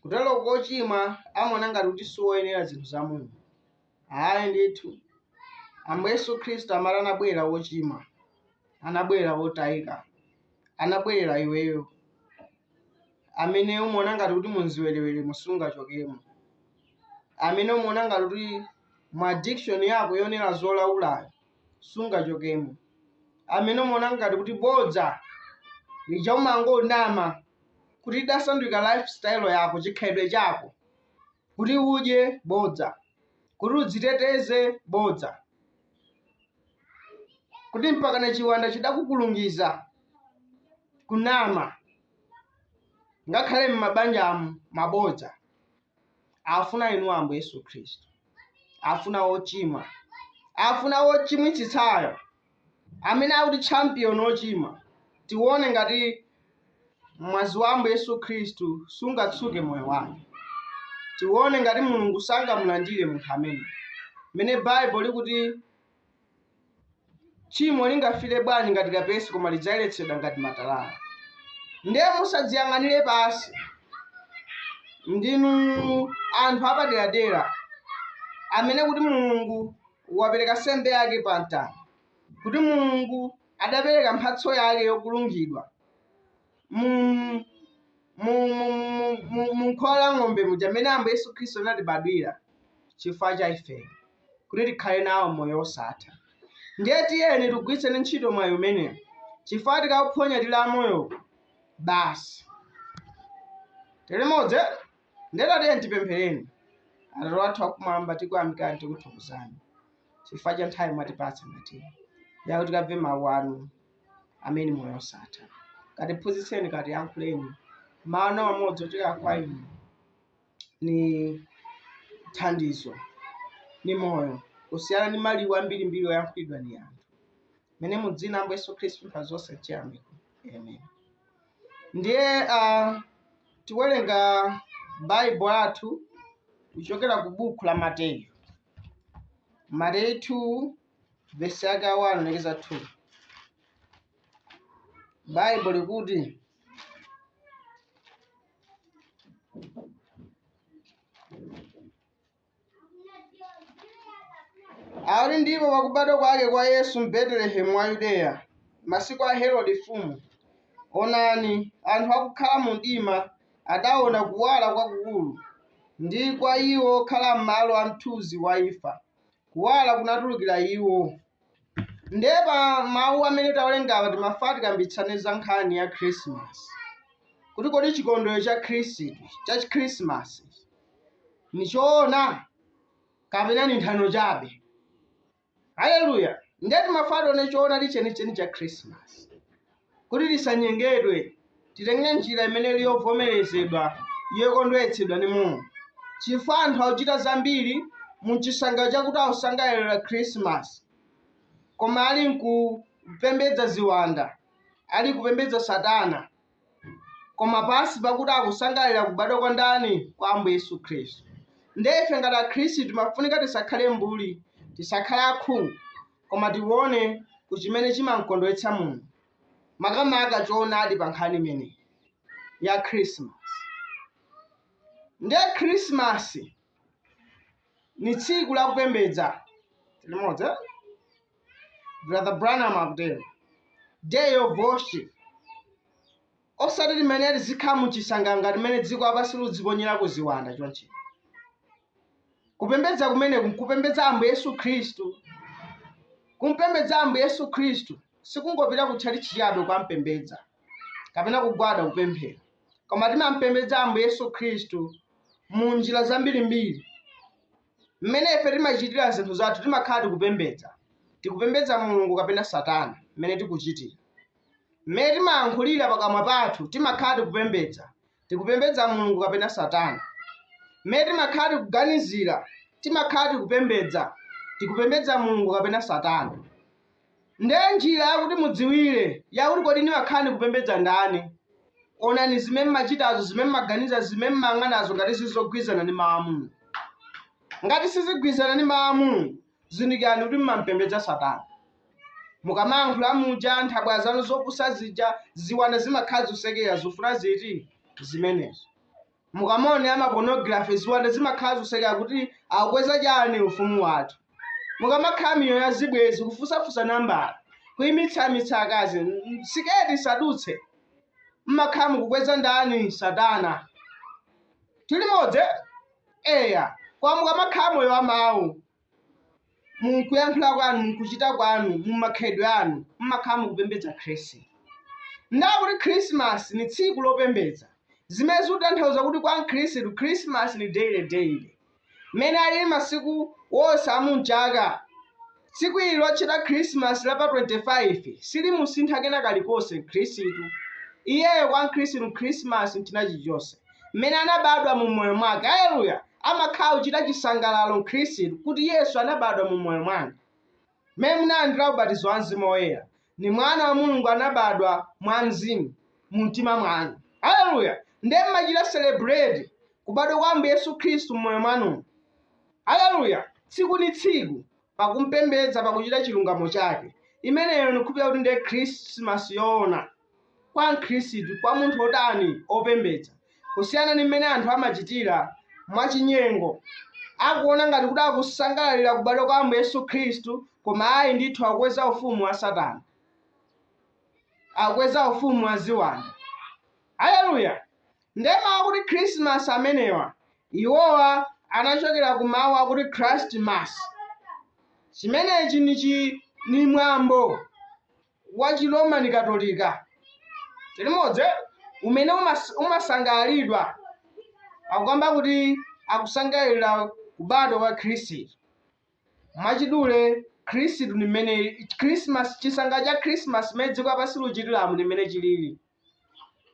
Kuteroko wochimwa amaona ngati kuti siwoyenera zinthu zaumulungu. Ayi ndithu. Ambuye Yesu Khristu amati anabwerera wochimwa, anabwerera wotayika, anabwerera iweyo amene umaona ngati kuti mu chiwereweremo sungachokemo, amene umaona ngati kuti mu addiction yako yoonera zolaulayo sungachokemo. Amene umaona ngati kuti bodza lija umangonama kuti idasandulika lifestyle yako, chikhalidwe chako, kuti udye bodza, kuti udziteteze bodza, kuti mpaka chiwanda chidakukulungiza kunama, ngakhale m'mabanjamu mabodza. Afuna inu Ambuye Yesu Khristu. afuna wochimwa afuna wochimwitsitsayo amene kuti champion wochimwa tione ngati mwazi wa ambuye yesu khristu sungatsuke moyo wake tione ngati mulungu sangamulandire munthu amene mene Bible likuti Tchimo lingafile bwanji ngati kapezi koma lidzayeletsedwa ngati matalala. Ndiye musadziyang'anile pansi. Ndinu anthu apadeladela amene kuti Mulungu wapeleka nsembe yake pa mtanda, kuti Mulungu adapeleka mphatso yake yokulungidwa mu mu mu- mu- mu- mu khola la ng'ombe muja momwe ambuye yesu khristu anatibadwira chifukwa cha ife kuti tikhale nawo moyo wosatha ndiye tiyeni tigwiritseni ntchito mwayi umenewu chifukwa tikaphonya tili amoyo basi tilimodzi ndiye tiyeni tipemphereni atate wathu akumwamba tikuyamikani tikuthokozani chifukwa cha nthawi mwatipatsa ngati iyi kuti tikamve mawu anu amene ndi moyo osatha katiphunzitseni katiyankhuleni mawu amodzi ochokera kwa inu ni thandizo ni moyo kusiyana ndi mawu ambirimbiri oyankhulidwa ndi anthu amene mu dzina la ambuye yesu khristu mwa zonse nchiyamiko amen ndiye uh, tiwerenga baibo athu kuchokera ku buku la mateyu mateyu 2 vesi yake ya 1 kulekeza 2 baibo likuti akuti ndipo pakubadwa kwake kwa yesu m'betelehemu wa yudeya masiku a herode mfumu onani anthu akukhala mu mdima adaona kuwala kwakukulu ndi kwa iwo okhala m'malo a mthunzi wa imfa kuwala kunatulukira iwo ndiye pa mawu amene tawerengawa timafati kambitsane za nkhani ya khrisimasi kuti kodi chikondwerero cha khrisimasi ni choona kapena ni nthano chabe haleluya ndiye timafati tione choona ndi chenicheni cha khrisimasi Kuti tisanyengedwe, titenge njira imene ili yovomerezedwa ndi yokondweretsedwa ni Mulungu, chifukwa anthu akuchita zambiri mu chisangalalo chakuti akusangalalira Khirisimasi, koma ali m'kupembedza ziwanda, ali kupembedza Satana, koma pansi pakuti akusangalalira kubadwa kwa ndani? Kwa Ambuye Yesu Khristu. Ndiye ife ngati Akhristu timafunika tisakhale mbuli, tisakhale akhungu. koma tiwone ku chimene chimamkondwetsa Mulungu, makamaka choonadi pa nkhani imeneyi, ya Khrismasi. Ndiye Khrismasi ni tsiku la kupembedza. Tili limodzi, eh? Brother Branham akutero. Day of worship. Osati timene tizikhala mu chisanganga timene dziko lapansi liludziponyera ku ziwanda chonchi. Kupembedza kumeneku nkupembedza Ambuye Yesu Khristu. Kumpembedza Ambuye Yesu Khristu sikungopita ku tchalitchi chabe kukampembedza kapena kugwada kupemphera, koma timampembedza Ambuye Yesu Khristu mu njira zambirimbiri. Mmene ife timachitira zinthu zathu timakhala tikupembedza, tikupembedza Mulungu kapena Satana mmene tikuchitira. Mmene timalankhulira pakamwa pathu timakhala tikupembedza, tikupembedza Mulungu kapena Satana. Mmene timakhala tikuganizira timakhala tikupembedza, tikupembedza Mulungu kapena Satana. Nde njira yakuti mudziwire yakuti kodi ndimakhala ndikupembedza ndani, onani zimene mmachitazo, zimene mmaganiza, zimene mmayang'anazo ngati zizugwirizana ndi Mau a Mulungu. Ngati sizigwirizana ndi Mau a Mulungu, zindikirani kuti mmampembedza Satana. Mukamalankhula muja nthabwala zanu zopusa zija ziwanda zimakhala zusekera zofuna zathu zimenezo. Mukamaonera ma pornography ziwanda zimakhala zusekera kuti akukweza chani ufumu wathu. Mukamakhala miyoyo ya zibwenzi kufunsafunsa nambala kuimitsamitsa akazi mm, siketi isadutse mmakhala mukukweza ndani satana tili limodzi eya koma mukamakhala moyo wa mawu mkuyankhula kwanu mkuchita kwanu mumakhalidwe anu mmakhala mukupembedza khristu ndawa akuti khrisimasi ni tsiku lopembedza zimene zikutanthauza kuti kwa mkhristu khrisimasi ni daily daily mmene alili masiku wonse amumchaka tsiku ili lotchedwa khrisimasi la pa 25 silimusintha kena kalikonse mkhristu iyeyo kwa mkhristu khrisimasi nchina chilichonse mmene anabadwa mu moyo mwake aleluya amakhala ochita chisangalalo Mkhristu kuti Yesu anabadwa mu moyo mwanu. M'mene munalandira ubatizo wa Mzimu Woyera, ndi mwana wa Mulungu anabadwa mwa Mzimu mu mtima mwanu. Haleluya! Ndiye mmachita celebrate kubadwa kwa Ambuye Yesu Khristu m'moyo mwanumo. Haleluya! Tsiku ndi tsiku pakumpembedza pakuchita chilungamo chake imeneyo ndikukhulupirira kuti ndiye khrismasi yoona kwa mkhristu kwa munthu wotani opembedza kusiyana ndi mmene anthu amachitira mwachinyengo akuona ngati kuti akusangalalira kubadwa kwa ambuye yesu khristu koma ayi ndithu akukweza ufumu wa satana akukweza ufumu wa ziwanda haleluya Ndiye mawu akuti Khrisimasi amenewa, iwowa anachokera ku mawu akuti Christ mass. Chimenechi ni chi, ni mwambo wa chi Roman Katolika, tili limodzi eh? umene umas, umasangalalidwa pakukamba kuti akusangalalira kubadwa kwa Khristu. Mwachidule, Khrist ni mmene, Khrisimasi, chisangalalo cha Khrisimasi mmene dziko lapansi likuchitiramu ni mmene chilili.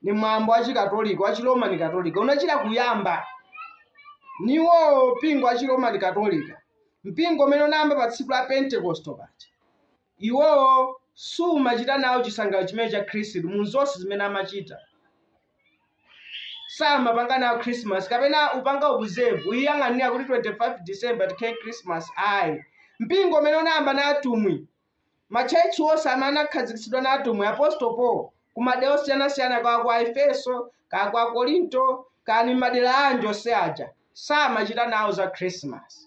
ni mwambo wa chikatolika wa chiromani katolika anachita kuyamba niwowo mpingo wa chiromani katolika mpingo umene unayamba pa tsiku la pentekosto paja iwowo samachita nawo chisangalalo chimene cha khrisimasi mu zonse zimene amachita samapanga nawo christmas kapena kupanga observe kuyiyang'anira kuti 25 december tikhale christmas ayi mpingo umene unayamba na atumwi Matchalitchi onse amene anakhazikitsidwa na atumwi, Apostle Paul, ku madera osiyana-siyana kaya ku Aifeso, kaya ku Akorinto, kaya ni m'madera anji onse aja, samachita nawo za Khrisimasi.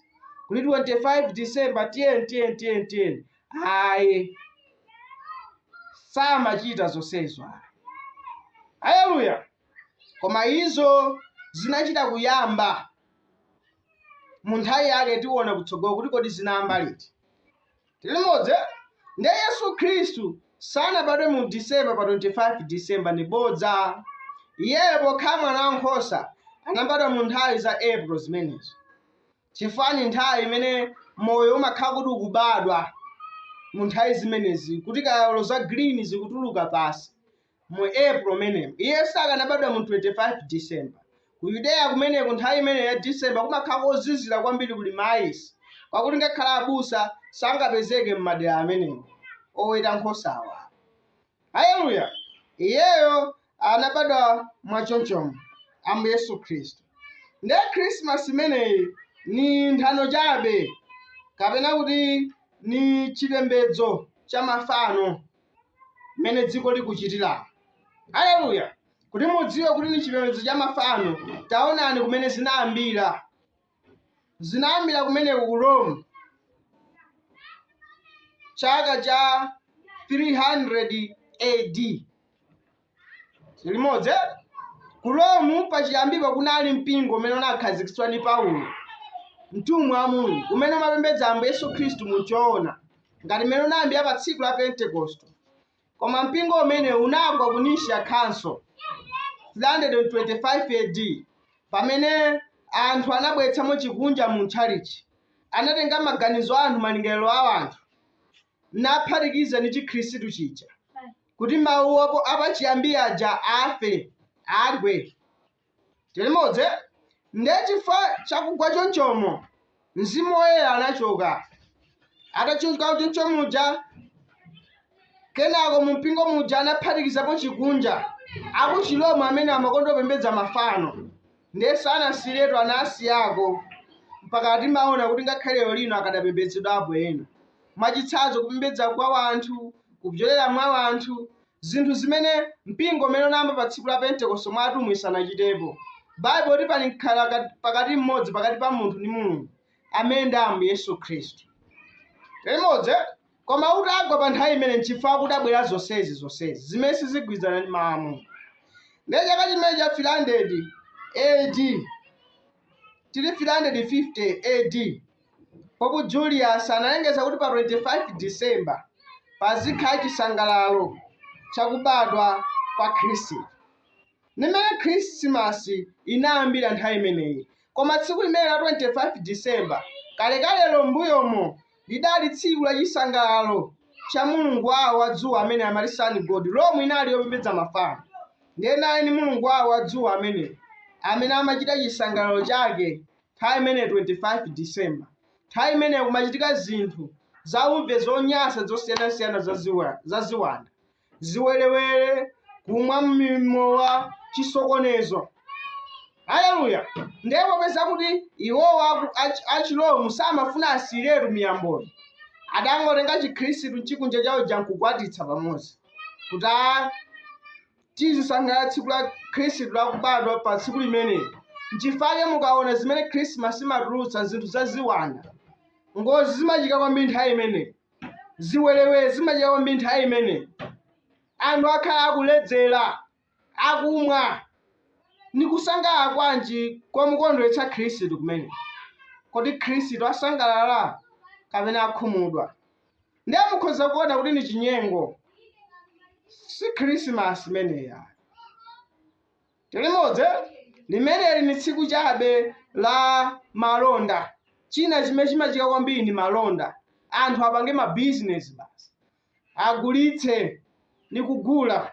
Kuti 25 December tiyeni, tiyeni, tiyeni, tiyeni. Ayi. Samachita zonsezo ayi. Aleluya! Koma izo zinachita kuyamba mu nthawi yake, tiona kutsogolo kuti kodi zinayamba liti. Tili limodzi eh? Nde Yesu Khristu sanabadwe mu December pa 25 December ndi bodza. Iyeyo pokhala mwana wa nkhosa anabadwa mu nthawi za April zimenezi. Chifukwa ni nthawi imene moyo umakhala kuti ukubadwa mu nthawi zimenezi kuti kaya ndi za green zikutuluka pansi. mu April m'menemo. Iye sakanabadwa mu 25 December. Ku Yudeya kumeneku nthawi imeneyo ya December kumakhala kozizira kwambiri kuli maayisi, kwakuti ngakhale abusa sangapezeke m'madera amenewo oweta nkhosawa. Haleluya! Iyeyo anabadwa mwa chonchomo, Ambuye Yesu Khristu. Ndiye Khrisimasi imeneyi ni nthano chabe, kapena kuti ni chipembedzo cha mafano. mmene dziko likuchitiramo haleluya kuti mudziwe kuti ndi chipembedzo cha mafano taonani kumene zinayambira zinayambira kumeneko ku rome chaka cha 300 ad tili limodzi eh? ku Rome pachiyambipo kunali mpingo umene unakhazikitsidwa ndi Paulo mtumwi wa Mulungu umene umapembedza Ambuye Yesu Khristu mu choona ngati mmene unayambira pa tsiku la Pentekoste koma mpingo umenewu unagwa ku Nicaea Council 325 AD pamene anthu anabweretsamo chikunja mu tchalichi anatenga maganizo a anthu malingaliro a anthu naphatikiza ndi chikhristu chija kuti mawu apo apachiyambi aja afe agwe tili limodzi nde chifukwa chakugwa chonchomo mzimu woyera anachoka atachoka choncho muja kenako mumpingo muja anaphatikizapo chikunja akuchiroma amene amakonda kupembedza mafano ndiye sanasiyiretu anasiyako mpaka timaona kuti ngakhale lero lino akadapembedzedwapo ena mwachitsanzo, kupembedza kwa wanthu, kupyolera mwa wanthu, zinthu zimene mpingo umene unayamba pa Tsiku la Pentekosto mwa atumwi sanachitepo. Baibulo likuti pali mkhala pakati m'modzi pakati pa munthu ndi Mulungu, amene ndi Ambuye Yesu Khristu. tili limodzi, koma utagwa pa nthawi imene nchifukwa kudabwera zonsezi zonsezi zimene sizigwirizana ndi mawu a Mulungu. Ndiye chaka chimene cha 300 AD till 350 AD Pope Julius analengeza kuti pa 25 December pazikhala chisangalalo cha kubadwa kwa Kristu. Ndi mmene Khirisimasi inayambira nthawi imeneyi. Koma tsiku limene la 25 December kalekalelo m'mbuyomo lidali tsiku la chisangalalo cha mulungu wawo wa dzuwa amene amati Sun God. Rome inali yopembedza mafano. Ndiye anali ndi mulungu wawo wa dzuwa ameneyu amene amachita chisangalalo chake nthawi imeneyo 25 December, nthawi imeneyo kumachitika zinthu zauve zonyansa zosiyanasiyana za ziwa- za ziwanda ziwerewere kumwa mimowa chisokonezo haleluya ndiye popeza kuti iwowo aku- ach- achiroma samafuna asiyiretu miyamboyo adangotenga chikhristu nchikunja chawo chija nkukwatitsa pamodzi kuti a- tizisangalala tsiku la khristu lakubadwa pa tsiku limeneli nchifake mukaona zimene khrisimasi imatulutsa zinthu za ziwanda ngozi zimachika kwambiri nthawi imeneyi ziwerewere zimachika kwambiri nthawi imeneyi anthu akhala akuledzera akumwa ni kusangalala kwanji komukondweretsa khristu kumene kodi khristu asangalala kapena akhumudwa ndiye mukhoza kuona kuti ni chinyengo si khrisimasi imeneyi tilimodzi limeneli ni tsiku chabe la malonda china chimene chimachitika kwambiri ni malonda anthu apange mabizinesi basi agulitse ni kugula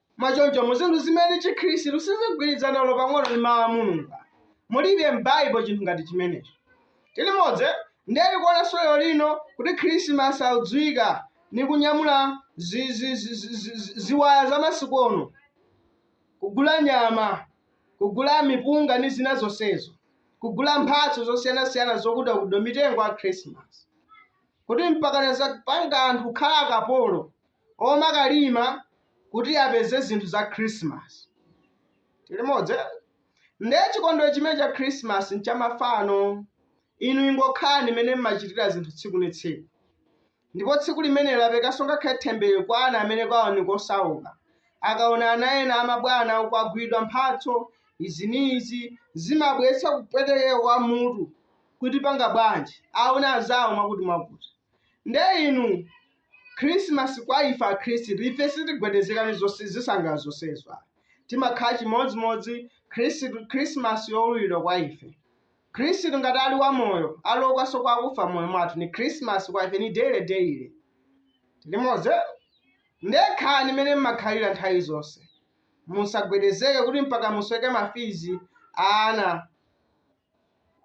Mwachoncho, ndi zinthu zimene Chikhristu sizigwirizana olo pang'ono ndi Mawu a Mulungu, mulibe m'Baibulo chinthu ngati chimenechi. Tili modzi, ndiye tikuonanso lero lino kuti Khrisimasi akudziwika ndi kunyamula ziwaya za masiku ono, kugula nyama, kugula mipunga ndi zina zonsezo, kugula mphatso zosiyanasiyana zakuti zakuti mitengo a Khrisimasi, kuti mpakana zapanga anthu kukhala akapolo. omakalima kuti apeze zinthu za Christmas. Tilimodzi eh? Nde chikondwero chimene cha Christmas nchamafano. Inu ingokhalani mene mmachitira zinthu tsiku ni tsiku. Ndipo tsiku limeneli lapangikanso ngakhale themberero kwa ana amene kwawo ni kosauka. Akaona ana ena amabwana uko aguliridwa mphatso izi ni izi zimabweretsa kupwetekeka kwa mutu kuti tipanga bwanji aona anzawo mwakuti mwakuti. Nde inu Khrisimasi kwa ife Akhristu, ife sitigwedezeka ndi zose, zisangalalo zonsezo ayi. Timakhala chimodzimodzi, Khrisimasi yowululidwa kwa ife. Khristu, ngati ali wamoyo, ali woukanso kwa akufa mmoyo mwathu, ndi Khrisimasi kwa ife, ndi daily, daily. Tili modzi? Ndiye khalani mmene mmakhalira nthawi zonse. Musagwedezeke kuti mpaka musweke mafizi a ana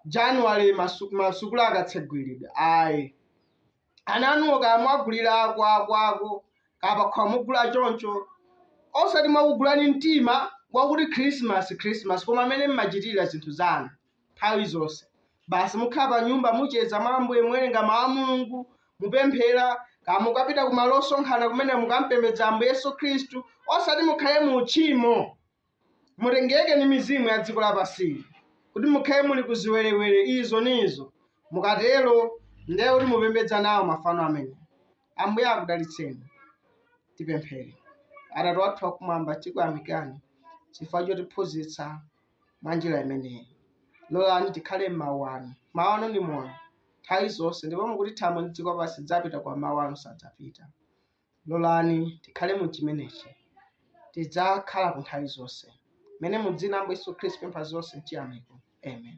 Januwale masukulu akatsegulidwa. Ayi. ana anuwo kaya mwagulira kakwakokwako kaya pakhukuwa mugula choncho osati mwakugula ni mtima wakuti khrisimasi khrisimasi koma mmene mmachitira zinthu zanu nthawi zonse basi mukhala pa nyumba mucheza mwa ambuye muwerenga mawu a mulungu mupemphera kaya mukapita ku malo osonkhana kumene mukampembedza ambuye yesu khristu osati mukhale mu uchimo Mutengeke ndi mizimu ya dziko lapansili, kuti mukhale muli ku ziwerewere izo ndi izo, mukatero ndiye kuti mupembedza nawo mafano amenewo. Ambuye akudalitseni. Tipemphere. Atate wathu wakumwamba, tikuyamikani chifukwa chotiphunzitsa mwa njira imeneyi. Lolani tikhale m'mawu anu. Mawu anu ndi moyo nthawi zonse, ndipo mukuti thambo ndi dziko lapansi zidzapita, koma mawu anu sadzapita. Lolani tikhale mu chimenechi. Tidzakhala ku nthawi zonse. Mene mu dzina la Ambuye Yesu Khristu tapempha zonse mchiyamiko. Amen.